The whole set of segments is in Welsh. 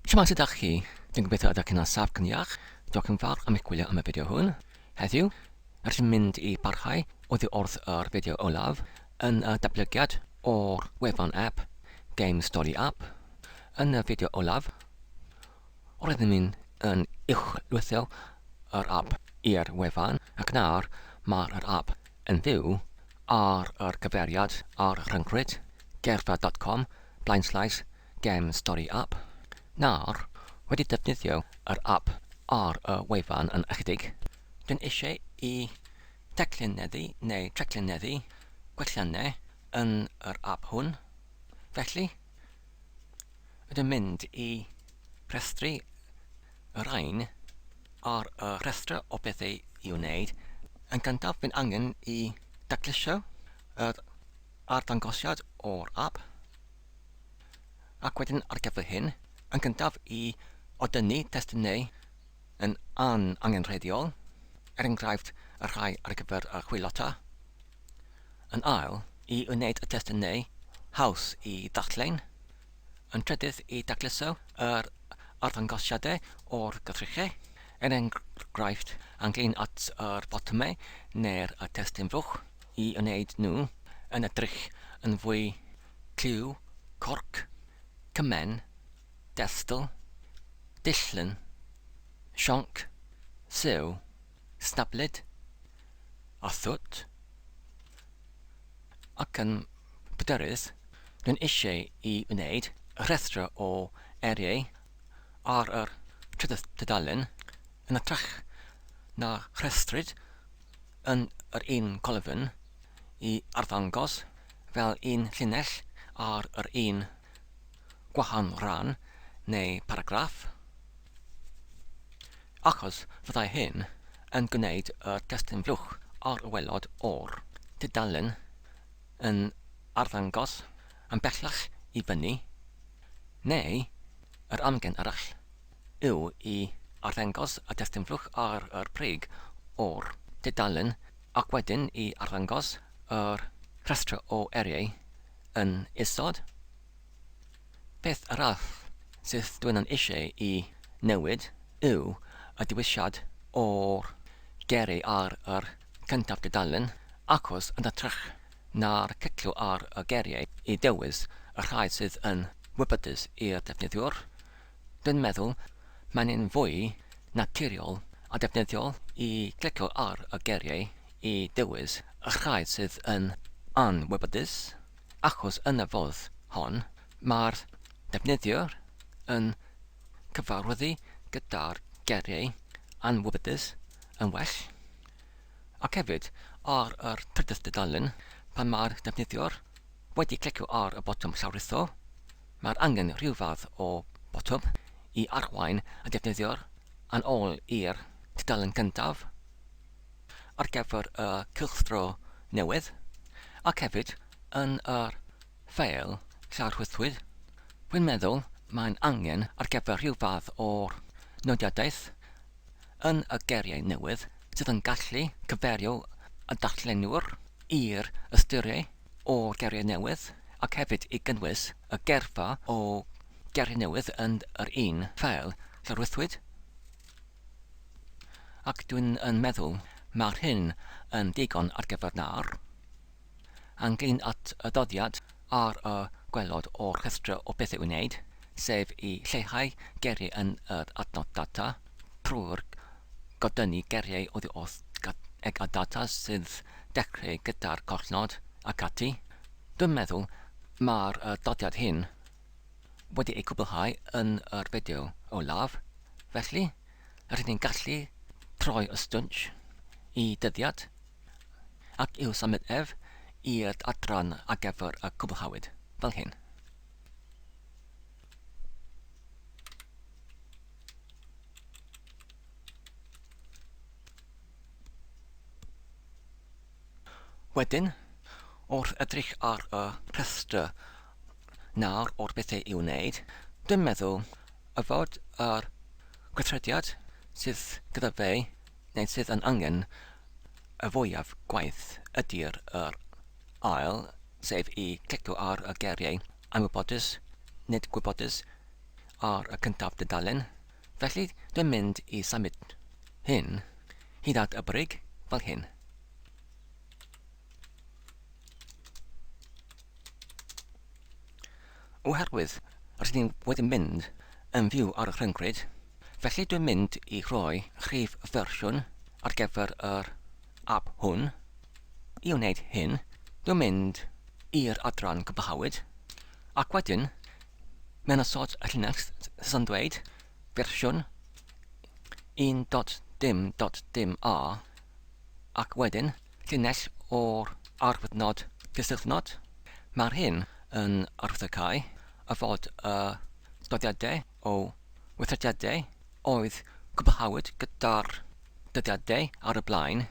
Siwmai sut ydych chi? Dwi'n gobeithio ydych chi'n asaf cyn iach. Diolch yn fawr am eich gwylio am y fideo hwn. Heddiw, rydych chi'n mynd i barhau oddi wrth yr fideo olaf yn y datblygiad o'r wefan app Game Story App. Yn y fideo olaf, roeddwn i'n yn uwchlwytho yr app i'r wefan ac nawr mae'r app yn fyw ar yr cyfeiriad ar rhyngrwyd gerdded dot com blaenslaes gem stori ap, nawr, wedi defnyddio yr ap ar y wefan yn ychydig, dyn eisiau i declineddu neu treclineddu gwelliannau yn yr ap hwn, felly, ydym mynd i rhestru Yr rhain ar y rhestr o bethau i wneud. Yn gyntaf, bydd angen i daclusio yr arddangosiad o'r app ac wedyn ar gyfer hyn, yn gyntaf i odynnu testunau yn an angenrheidiol, er enghraifft y rhai ar gyfer y chwilota. Yn ail, i wneud y testunau haws i ddarllen, yn trydydd i dacluso yr arddangosiadau o'r gyfrychau, er enghraifft, ynglŷn at yr botymau neu'r testun fuwch, i wneud nhw yn edrych yn fwy clyw, corc, cymen, destl, dillyn, sionc, sew. Stabled a thwt ac yn bryderus, rwy'n eisiau i wneud rhestr o eiriau ar y trydydd tudalen yn hytrach na rhestrwyd yn yr un colofn i arddangos fel un llinell ar yr un gwahanol ran neu baragraff. achos fyddai hyn yn gwneud y testun fluwch ar y waelod o'r tudalen yn arddangos yn bellach i fyny, neu yr amgen arall yw i arddangos y testun fluwch ar y brig o'r tudalen ac wedyn i arddangos yr rhestr o eiriau yn isod. Peth arall sydd dwi yn eisiau i newid yw y dewisiad o'r geri ar yr cyntaf dudalen achos yn hytrach na'r cytlu ar y geriau i dewis y rhai sydd yn wybodus i'r defnyddiwr, dwi'n meddwl mae'n un fwy naturiol a defnyddiol i glicio ar y geriau i dewis y rhai sydd yn anwybodus. achos yn y fodd hon mae'r defnyddiwr yn cyfarwyddu gyda'r geiriau anwybydus yn well, ac hefyd ar y trydydd dudalen pan mae'r defnyddiwr wedi clicio ar y botwm llawrlwytho, mae'r angen rhyw fath o botwm i arwain y defnyddiwr yn ôl i'r dudalen gyntaf. ar gyfer y cylchdro newydd ac hefyd yn yr ffeil llawrhwythwyd, rwy'n meddwl, mae'n angen ar gyfer rhyw fath o nodiadaeth yn y geiriau newydd sydd yn gallu cyfeirio y darllenwr i'r ystyriau o'r geiriau newydd ac hefyd i gynnwys y geirfa o geiriau newydd yn yr un ffeil llawrhwythwyd. Ac dwi'n yn meddwl mae'r hyn yn ddigon ar gyfer nawr. Ynglŷn at y dyddiad ar y gwelod o'r rhestr o bethau i wneud, sef i lleihau geiriau yn yr adnodd data trwy'r godynnu geiriau oddi wrth eg a data sydd dechreu gyda'r collnod ac ati, dwi'n meddwl mae'r dyddiad hyn wedi eu cwblhau yn yr fideo olaf, felly rydyn ni'n gallu troi y stwnsh i dyddiad ac i'w symud ef i'r adran ar gyfer y cwblhawyd, fel hyn. Wedyn, wrth edrych ar y rhestr nawr o'r bethau i'w wneud, dwi'n meddwl y fod yr gweithrediad sydd gyda fe neu sydd yn angen y fwyaf gwaith ydy'r yr ail, sef i glicio ar y geiriau 'anwybodus', 'nid gwybodus' ar y cyntaf dudalen, felly dwi'n mynd i symud hyn Hyd at y brig, fel hyn. Oherwydd rydyn ni wedi mynd yn fyw ar y rhyngrwyd, felly dwi'n mynd i roi rhif fersiwn ar gyfer yr app hwn. I wneud hyn, dwi'n mynd i'r adran gwblhawyd, ac wedyn, mewn y sort Linux sy'n dweud fersiwn 1.dim.dim a ac wedyn llinell o'r arwyddnod disydnod. Mae'r hyn yn arwyddocáu y fod y dyddiadau o weithrediadau oedd cwblhawyd gyda'r dyddiadau ar y blaen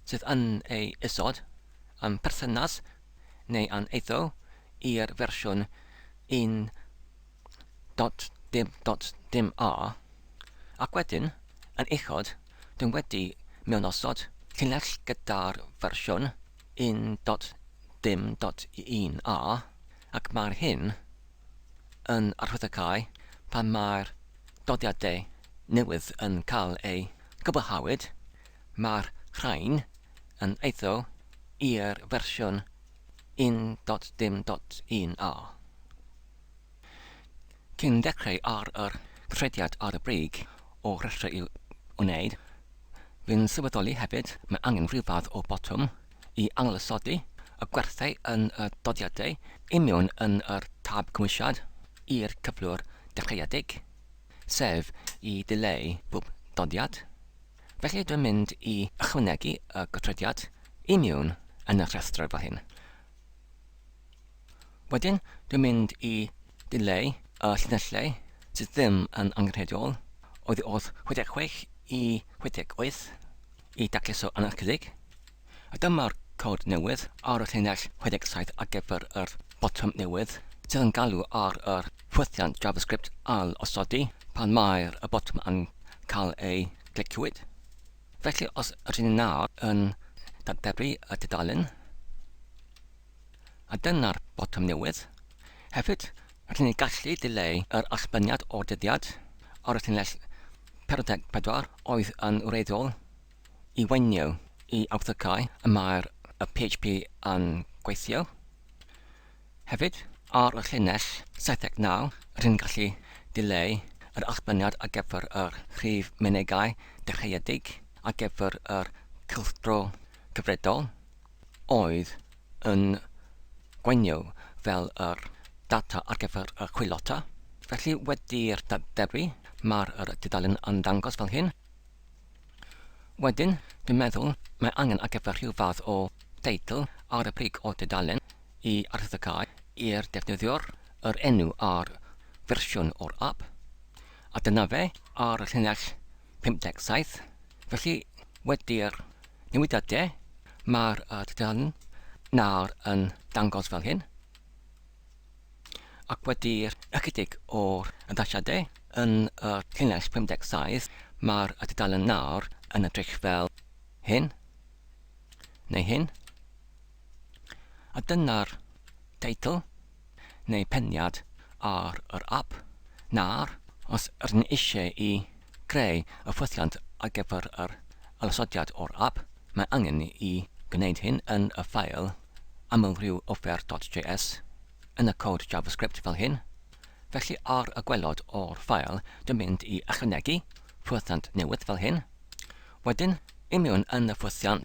sydd yn eu isod yn perthynas neu yn eiddo i'r fersiwn 1.dim.dim a. dot dim dot dim a, ac wedyn, yn uchod, dwi wedi mewnosod llinell gyda'r fersiwn un dot dim dot un a, ac mae'r hyn yn arhwyddocae pan mae'r dyddiadau newydd yn cael eu cwblhawyd, mae'r rhain yn eiddo i'r fersiwn un dot dim dot un a. Cyn dechrau ar yr trediad ar y brig o restrau i'w wneud, fi'n sylweddoli hefyd mae angen rhyw fath o botwm i ailosodi y gwerthau yn y dyddiadau i mewn yn yr tab cymwysiad i'r cyflwr dechreuedig, sef i ddileu bob dyddiad. Felly dwi'n mynd i ychwanegu y gythrediad i mewn yn y rhestr fel hyn. Wedyn, dwi'n mynd i dileu y llinellau sydd ddim yn angenrheidiol, oddi wrth 66 i 68, i dacluso yn ychydig, a dyma'r cod newydd ar y llinell 67 ar gyfer yr botwm newydd sydd yn galw ar yr ffwythiant JavaScript ail-osodi pan mae'r y botwm yn cael ei gliciwyd. Felly, os rydyn ni nawr yn darperu y tudalen, A dyna'r botwm newydd. Hefyd, rydyn ni'n gallu dileu yr allbaniad o'r dyddiad ar y llinell 44 oedd yn wreiddiol i waenio i awthycau y mae'r y PHP yn gweithio. Hefyd, ar y llinell 79, rydyn ni'n gallu dileu yr allbaniad ar gyfer yr rhif mynegai dechreuedig ar gyfer yr cylchdro cyfredol. oedd yn gweithio fel yr data ar gyfer y chwilota. Felly wedi'r darperu, mae'r yr dudalen yn dangos fel hyn. Wedyn, dwi'n meddwl, mae angen ar gyfer rhyw fath o deitl ar y brig o dudalen i arddegau i'r defnyddiwr yr enw a'r fersiwn o'r ap. A dyna fe ar y llinell 57. Felly wedi'r Newidiad de. Mae'r uh, tudalen nawr yn dangos fel hyn. Ac wedi'r ychydig o'r addasiadau yn y llinell 57, mae'r uh, tudalen nawr yn edrych fel hyn, neu hyn. A dyna'r teitl, neu peniad, ar yr ap, nawr, os rŷn ni eisiau i greu y ffwythiant ar gyfer yr ysodiad o'r ap, mae angen i gwneud hyn yn y ffeil amlrhywofer.js, yn y cod JavaScript fel hyn, felly ar y gwaelod o'r ffeil dwi'n mynd i ychwanegu ffwythiant newydd fel hyn, wedyn, i mewn yn y ffwythiant,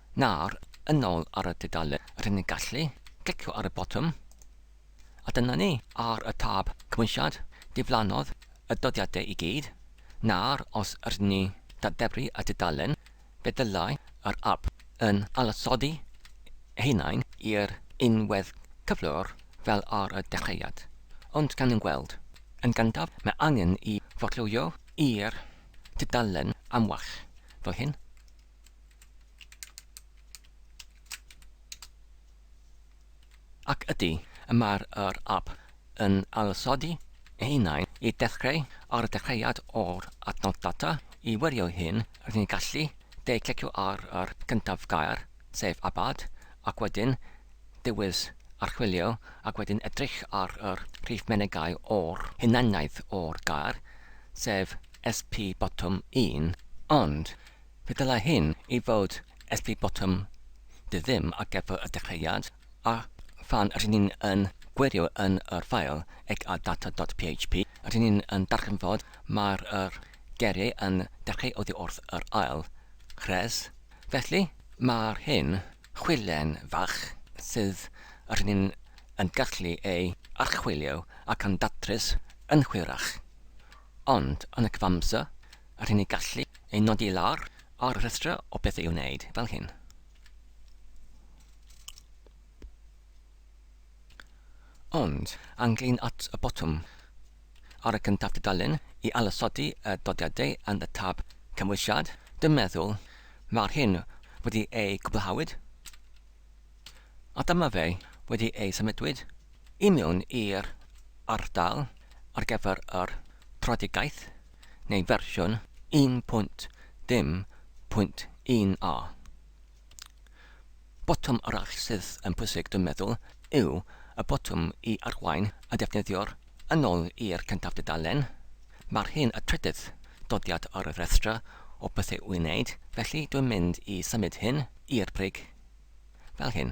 Nawr, yn ôl ar y dudalen, rŷn ni'n gallu clicio ar y botwm, a dyna ni, ar y tab Cymwysiad, diflannodd y dyddiadau i gyd. Nawr, os rŷn ni ddadebru y dudalen, fe ddylai yr ap yn ailosodi ei hunain i'r un wedd cyflwr fel ar y dechreuad. Ond gawn ni weld. Yn gyntaf, mae angen i forlwyo i'r dudalen amwell, fel hyn. Ac ydy, y mae'r yr ap yn ailosodi ei hunain i ddechreu ar y dechreuad o'r adnodd data, i wirio hyn rydyn ni'n gallu de clicio ar yr gyntaf gair, sef abad, ac wedyn dewis archwilio ac wedyn edrych ar yr rhif menegau o'r hunaniaeth o'r gair, sef SP botwm un. Ond, Fe ddylai hyn i fod at ddi botwm dy ddim ar gyfer y dechreuad, a phan rŷn ni'n yn gwirio yn yr ffael ec a data dot php, rŷn ni'n yn darganfod mai'r yr geiriau yn dechreu oddi wrth yr ail rhes. Felly, mai'r hyn chwilen fach sydd rŷn ni'n yn gallu ei archwilio ac yn datrys yn hwyrach. Ond, yn y cyfamser, a rhyn y gallu ei nodi lawr ar rhestrau o beth i'w wneud, fel hyn. Ond, anglyn at y botwm ar y cyntaf dudalen i ailosodi y dodiadau yn y tab Cymwysiad, dwi'n meddwl, mae'r hyn wedi ei gwblhawyd. A dyma fe wedi ei symudwyd i mewn i'r ardal ar gyfer yr Tradigaeth, neu fersiwn 1.0.1 a. Botwm arall sydd yn pwysig dwi'n meddwl yw y botwm i arwain y defnyddiwr yn ôl i'r cyntaf dudalen. Mae'r hyn y trydydd dodiad ar y rhestr o bethau i'w wneud, felly dwi'n mynd i symud hyn i'r brig Fel hyn.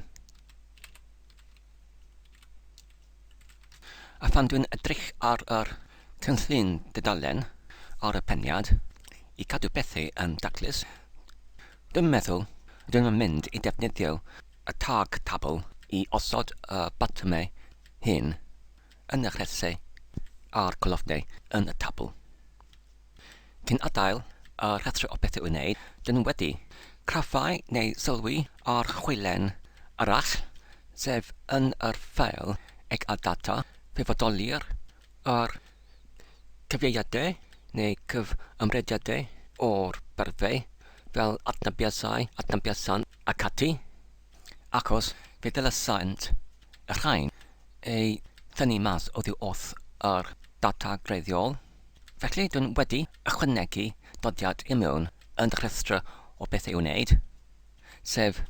A phan dwi'n edrych ar yr cynllun dudalen ar y peniad i gadw pethau yn daclus, dwi'n meddwl rydym yn mynd i defnyddio y tag tabl i osod y botymau hyn yn y rhesau a'r colofnau yn y tabl. Cyn adael y rhestrau o bethau i'w wneud, dyn nhw wedi craffáu neu sylwi ar chwilen arall, sef yn yr ffeil ag ar ddata fe fodoli'r yr cyfieithiadau neu gyfymrediadau o'r byrddau fel adnabiasau, adnabiasant ac ati, achos fe ddylesant y rhain ei thynnu mas oddi wrth yr ddata greiddiol. Felly, dwi'n wedi ychwanegu dodiad i mewn yn y rhestr o beth i'w wneud, sef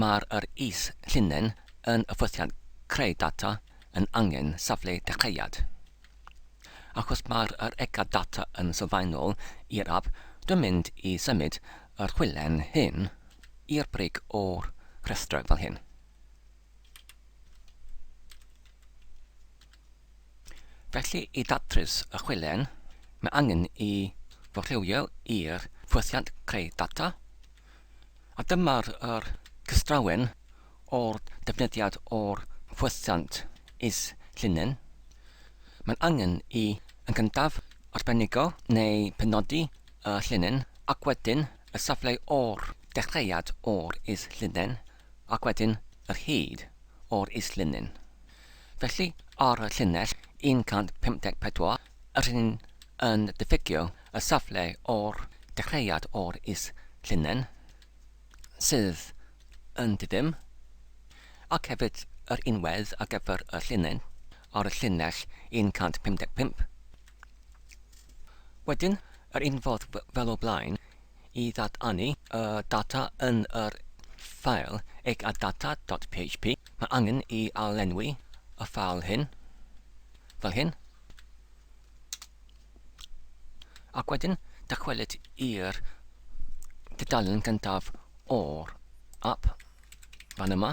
mae'r yr is llinyn yn y ffwythiant creu data yn angen safle dechreuad. Achos mae'r yr egad data yn sylfaenol i'r app, dwi'n mynd i symud yr chwilen hyn i'r brig o'r rhestr fel hyn. Felly, i ddatrys y chwilen, mae angen i forchewio i'r ffwythiant creu data, a dyma'r yr cystrawen o'r defnyddiad o'r ffwythiant is-llinyn. Mae'n angen i yn gyntaf arbenigo neu penodi y llinyn ac wedyn y safle o'r dechreuad o'r is-llinyn Ac wedyn yr hyd o'r is-linyn. Felly, ar y llinell 154, yr rhynyn yn diffygio y safle o'r dechreuad o'r is-linen, sydd yn di-ddim, ac hefyd yr unwedd ar gyfer y llinyn ar y llinell 155. Wedyn, yr un fodd fel o blaen, i ddadanu y data yn yr ffeil egadata.php, mae angen i arlenwi y ffeil hyn, fel hyn, ac wedyn dychwelyd i'r dudalen gyntaf o'r app, fan yma.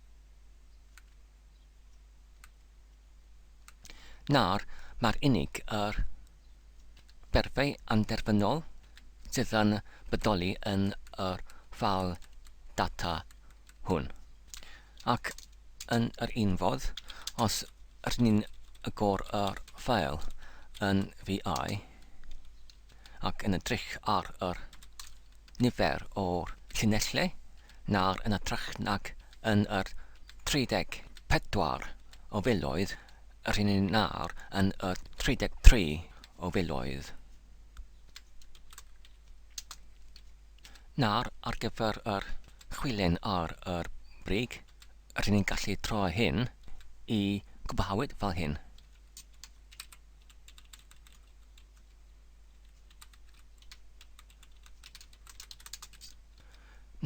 Nawr, mae'r unig yr berfau anderfynol sydd yn bodoli yn yr ffâl data hwn. Ac yn yr un fodd, os rydyn ni'n agor yr ffâl yn VI, ac yn edrych ar yr nifer o'r llinellau nawr yn ytrach nag yn yr 34 o filoedd yr hyn ni nawr yn y 33 o filoedd. Nawr, ar gyfer yr chwilen ar yr brig, yr hyn ni'n gallu troi hyn i gwblhawyd fel hyn.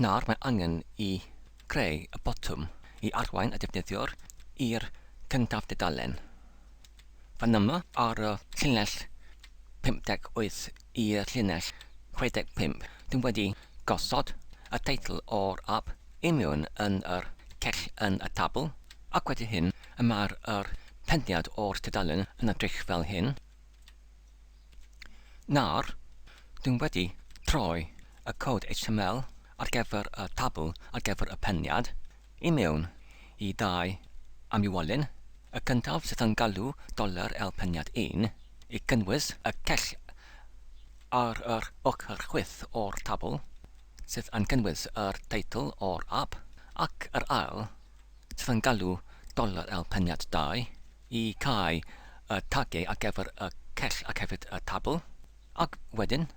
Nawr mae angen i greu y botwm i arwain y defnyddiwr i'r cyntaf dudalen. Fan yma, ar y llinell 58 i'r llinell 65, dw i wedi gosod y teitl o'r ap i mewn yn yr cell yn y tabl, ac wedi hyn y mae'r yr pendiad o'r tudalen yn edrych fel hyn. Nawr, dw i wedi troi y cod HTML ar gyfer y tabl ar gyfer y peniad i mewn i dau amywolyn, y cyntaf sydd yn galw dollar el peniad un i gynnwys y cell ar yr ochr chwith o'r tabl sydd yn cynnwys yr teitl o'r ap, ac yr ail sydd yn galw dollar el peniad dau. i cau y tagiau ar gyfer y cell ac hefyd y tabl, ac wedyn,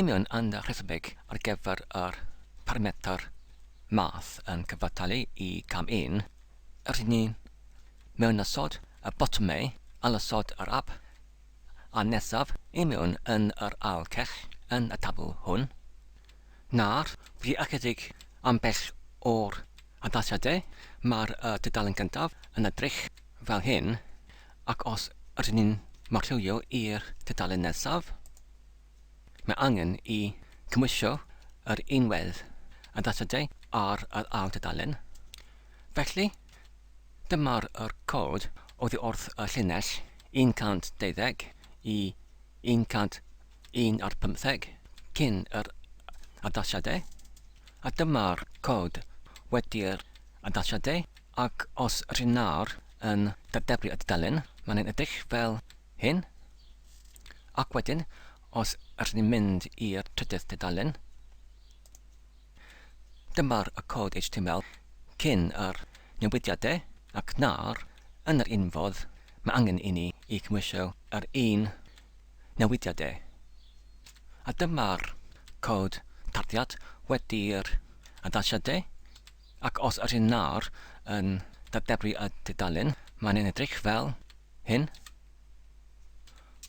union yn rhesymeg ar gyfer yr parametr math yn cyfartalu i cam un, rydyn ni'n mewnosod y botymau ailosod yr ap a nesaf i mewn yn yr ail cell yn y tabl hwn. Nawr, dwi ychydig yn bell o'r adlasiad de, mae'r dudalen gyntaf yn edrych fel hyn, ac os ydyn ni'n marchwilio i'r dudalen nesaf, mae angen i gymhwysio yr unwedd adlasiadau ar yr ail dudalen. Felly, dyma'r cod oddi wrth y llinell 120 i 120. 1 ar 15 cyn yr addasiadau, a dyma'r cod wedi'r addasiadau, ac os rŷn nawr yn dadeblu y dudalen, mae'n ein edrych fel hyn, ac wedyn, os rŷn ni'n mynd i'r trydydd dudalen, dyma'r cod HTML cyn yr newidiadau, ac nawr, yn yr un fodd, mae angen i ni i gymwysio yr un newidiadau, a dyma'r cod tarddiad wedi'r addasiadau, ac os ydyn nhw'n yn datblygu y tudalen, mae'n yn edrych fel hyn,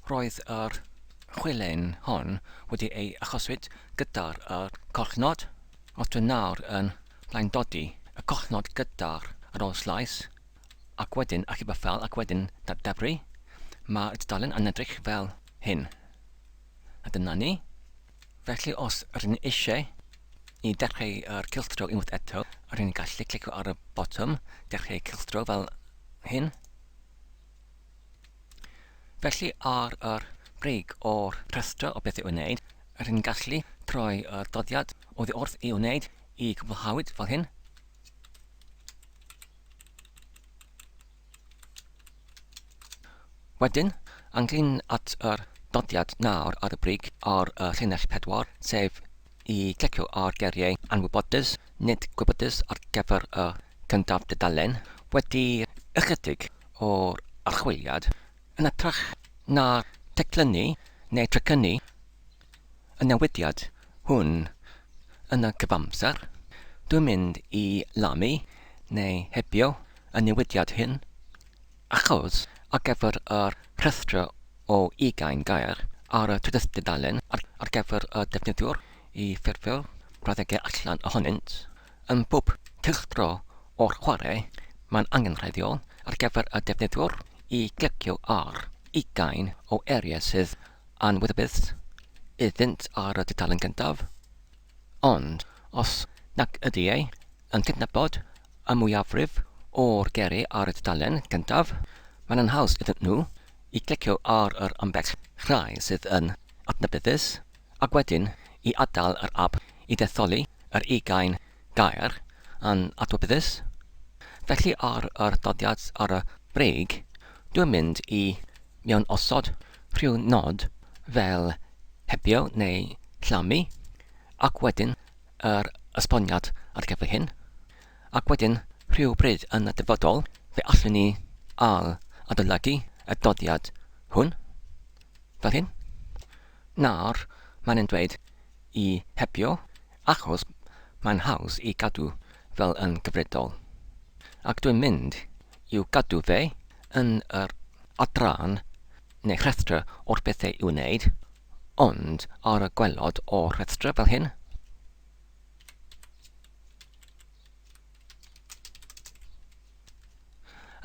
Roedd yr chwilen hon wedi ei achoswyd gyda'r yr collnod, os dwi nawr yn blaendodi y collnod gyda'r yr ol-slais, Ac wedyn achub y ffeil ac wedyn dadebru, mae'r tudalen yn edrych fel hyn. A dyna ni. Felly os rydyn ni eisiau i dechrau yr cylchdro unwaith eto, rydyn ni'n gallu clicio ar y botwm dechrau cylchdro fel hyn. Felly ar yr brig o'r rhestr o beth i'w wneud, rydyn ni'n gallu troi y doddiad oddi wrth i'w wneud i gwblhawyd fel hyn. Wedyn, ynglŷn at yr dyddiad nawr ar y brig ar y llinell pedwar, sef i glicio ar geiriau anwybodus, nid gwybodus ar gyfer y cyntaf dudalen, wedi ychydig o'r archwiliad, yn hytrach na teclynnu neu trecynnu, y newidiad hwn yn y cyfamser, dwi'n mynd i lamu neu hebio y newidiad hyn, achos ar gyfer y rhestr o ugain gair ar y trydydd dudalen ar gyfer y defnyddiwr i ffurfio'r brawddegau allan ohonynt, yn bob cylchdro o'r chwarae, mae'n angenrheidiol ar gyfer y defnyddiwr i glicio ar ugain o eiriau sydd Anwyd y byth iddynt ar y tudalen gyntaf, ond os nac ydy e yn cydnabod y mwyafrif o'r geri ar y tudalen gyntaf, mae'n anhaws iddyn nhw i glicio ar yr ambell rai sydd yn adnabyddus ac wedyn i adael yr ap i ddetholi yr ugain gair yn adnabyddus. Felly ar yr adroddiad ar y brig, dwi'n mynd i Mewn osod rhyw nod fel hebio neu llamu, ac wedyn yr esboniad ar gyfer hyn, ac wedyn rhyw bryd yn y dyfodol fe allwn ni ail-adolygu y dyddiad hwn, fel hyn, Nawr mae'n yn dweud i hebio achos mae'n haws i gadw fel yn gyfredol, ac dwi'n mynd i'w gadw fe yn yr adran neu rhestr o'r pethau i'w wneud, ond ar y gwaelod o'r rhestr fel hyn,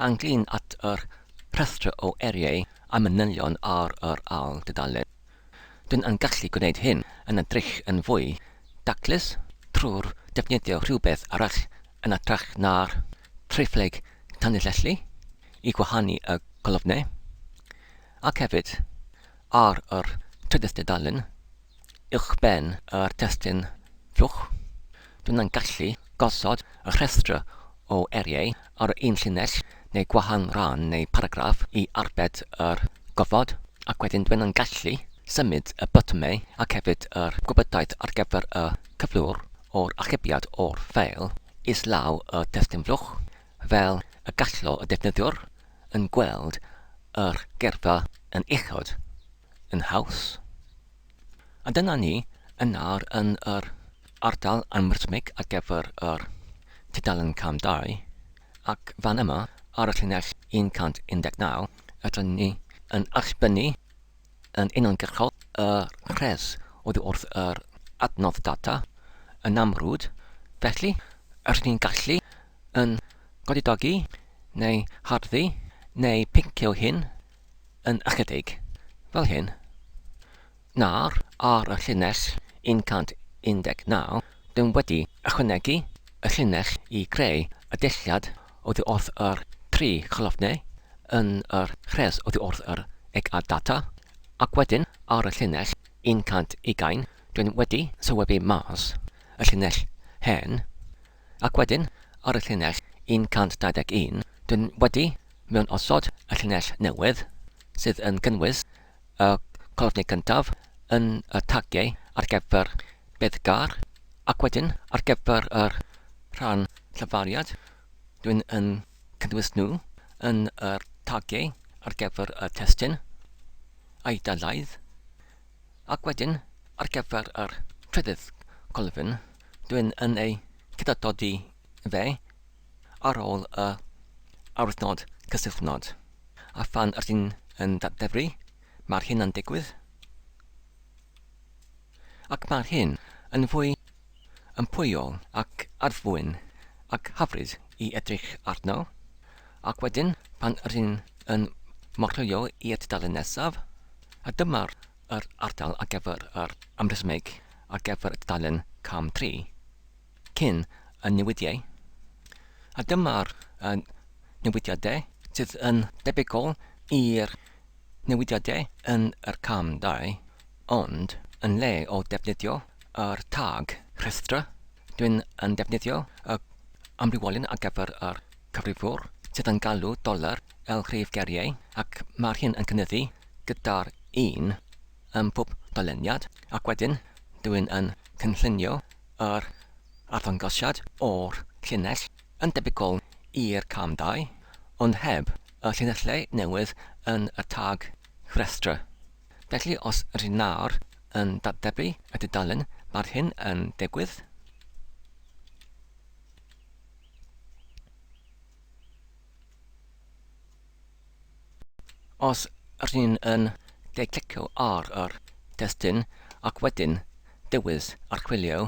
ynglŷn at yr rhestr o eiriau a manylion ar yr ail dudalen. Dyn yn gallu gwneud hyn yn edrych yn fwy daclus trwy'r defnyddio rhywbeth arall yn ytrach na'r Triphlyg tanlinellu i gwahanu y colofnau, ac hefyd, ar yr trydydd dudalen, uwchben yr testun fluwch, dw i'n gallu gosod y rhestr o eiriau ar yr un llinell neu gwahan ran neu paragraff i arbed yr gofod, ac wedyn dw i'n gallu symud y botymau ac hefyd yr gwybodaeth ar gyfer y cyflwr o'r archebiad o'r ffeil. islaw y testun flwch, fel y gallo y defnyddiwr yn gweld yr gerfa yn uchod, yn haws. A dyna ni yn nawr yn yr ardal anwrthmig ar gyfer yr tudalen cam dau, ac fan yma ar y llinell 119 rydyn ni yn allbynnu yn uniongyrchol y rhes oddi wrth yr adnodd data yn amrwd, felly, rydyn ni'n gallu yn godidogi neu harddu neu pincio hyn yn ychydig, fel hyn. Nawr, ar y llinell 119, Dw wedi ychwanegu y llinell i greu y dulliad oddi wrth yr tri cholofnau yn yr rhes oddi wrth yr eg a data, ac wedyn ar y llinell 120 dwi'n wedi sylwebu mas y llinell hen, ac wedyn ar y llinell 121 dwi'n wedi mewnosod y llinell newydd, sydd yn gynnwys y colofni cyntaf yn y tagiau ar gyfer beiddgar ac wedyn ar gyfer yr rhan llyfariad dwi'n yn cynnwys nhw yn y tagiau ar gyfer y testun a'i dalaith ac wedyn ar gyfer yr trydydd colofn dwi'n yn ei cydadodi fe ar ôl y arwythnod cysylltnod, a phan ydyn yn datddefru, mae'r hyn yn digwydd, ac mae'r hyn yn fwy ympwyol ac adfwyn ac hyfryd i edrych arno, ac wedyn pan ydyn yn morlwyo i'r dudalen nesaf, a dyma'r yr ardal ar gyfer yr amrhesymeg ar gyfer y dudalen cam tri. cyn y newidiau, a dyma'r newidiadau sydd yn debygol i'r newidiadau yn yr cam dau, ond yn lle o ddefnyddio yr tag rhestra, dwi'n yn defnyddio y amrywiolyn ar gyfer yr cyfrifwr sydd yn galw dollar el rhif geriau ac mae'r hyn yn cynyddu gyda'r un ym mhob doleniad ac wedyn dwi'n yn cynllunio Yr arddangosiad o'r llinell yn debygol i'r cam dau, ond heb y llinellau newydd yn y tag rhestr. Felly os rŷn nawr yn datblygu y dudalen, mae'r hyn yn digwydd. Os rŷn yn de-glicio ar yr testun ac wedyn dewis Archwilio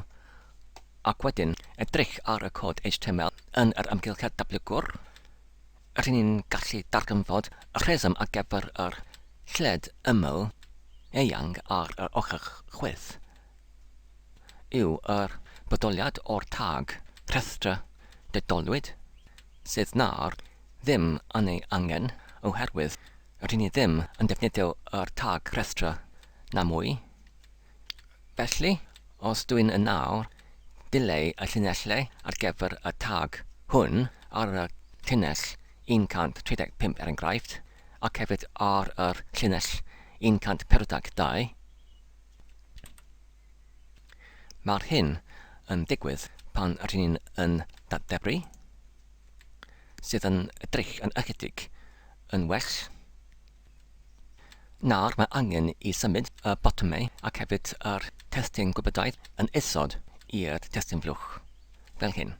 ac wedyn edrych ar y cod html yn yr amgylchedd datblygwr, rŷn ni'n gallu darganfod y rheswm ar gyfer yr lled ymyl eang ar yr ochr chwith yw yr bodoliad o'r tag rhestra dedolwyd sydd na'r ddim yn ei angen oherwydd ry'n ni ddim yn defnyddio yr tag rhestra na mwy. Felly, os dw i'n yn awr, dileu y llinellau ar gyfer y tag hwn ar y llinell 135 er enghraifft, ac hefyd ar yr llinell 142. Mae'r hyn yn digwydd pan ry'n ni'n yn datblygu. sydd yn edrych yn ychydig yn well. Nawr mae angen i symud y botymau ac hefyd yr testun gwybodau yn isod i'r testun flwch, fel hyn.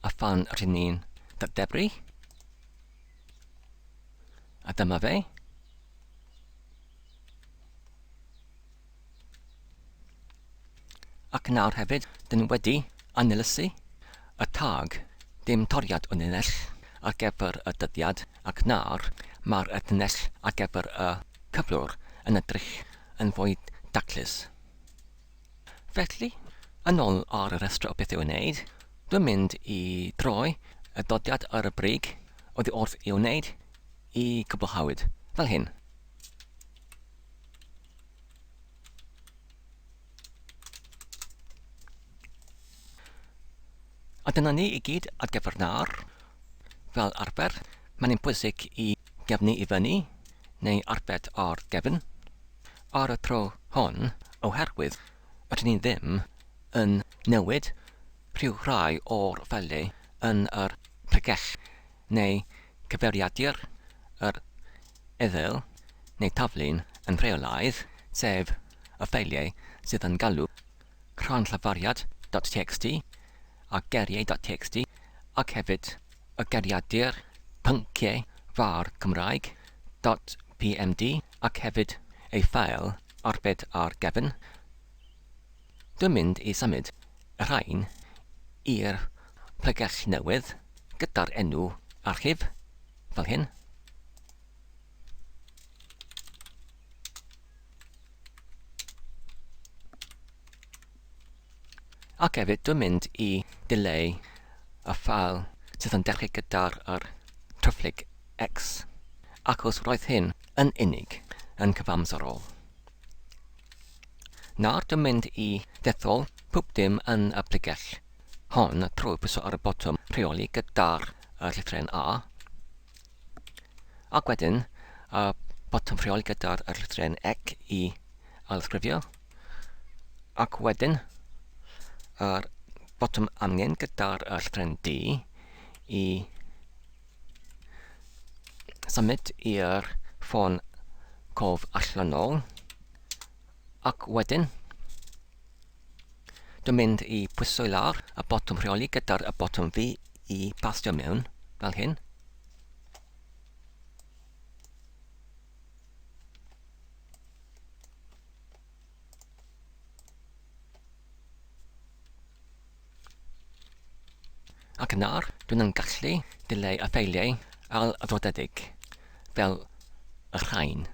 A phan rydyn ni'n dadebru, a dyma fe, Ac nawr hefyd, dyn ni wedi anylysu y tag Dim toriad o linell ar gyfer y dyddiad ac nawr mae'r linell ar gyfer y cyflwr yn edrych yn fwy daclus. Felly, yn ôl ar y rhestr o beth i'w wneud, dwi'n mynd i droi y dodiad ar y brig oddi wrth i'w wneud i gwblhawyd, fel hyn. A dyna ni i gyd ar gyfer nawr. Fel arfer, mae'n ein pwysig i gefnu i fyny, neu arbed ar gefn, ar y tro hon oherwydd rydyn ni ddim yn newid rhyw rai o'r fele yn yr pregeth neu gyfeiriadur yr Ethel, neu Taflun, yn rheolaidd, sef y ffeiliau sydd yn galw Crannllafariad dot txt a Geriau dot txt ac hefyd y Geriadur, Pynciau, var, Cymraeg, dot pmd ac hefyd ei ffeil arbed ar gefn. Dwi'n mynd i symud y rhain i'r pregell newydd gyda'r enw archif, fel hyn. Ac hefyd dwi'n mynd i dileu y ffael sydd yn dechrau gyda'r yr tryfflyg X, ac os roedd hyn yn unig yn cyfamserol. Nawr dwi'n mynd i dethol pob dim yn y pregell hon trwy pwyso ar y botwm rheoli gyda'r uh, llythren A ac wedyn y uh, botwm rheoli gyda'r uh, llythren ec i alysgrifio ac wedyn yr uh, botwm amgen gyda'r uh, llythren D i Symud i'r ffôn cof allanol. Ac wedyn, dwi'n mynd i pwyso i lawr y botwm rheoli gyda'r y botwm fi i bastio mewn, fel hyn. Ac yn awr, dw i'n gallu dileu y ffeiliau aildraddedig, fel y rhain.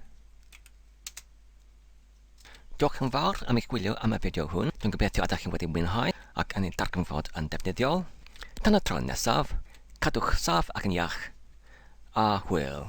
Diolch yn fawr am eich gwylio am y fideo hwn. Dwi'n gobeithio ydych chi wedi mwynhau ac yn ei darganfod yn defnyddiol. Tan y tro nesaf, cadwch saff ac yn iach, a hwyl!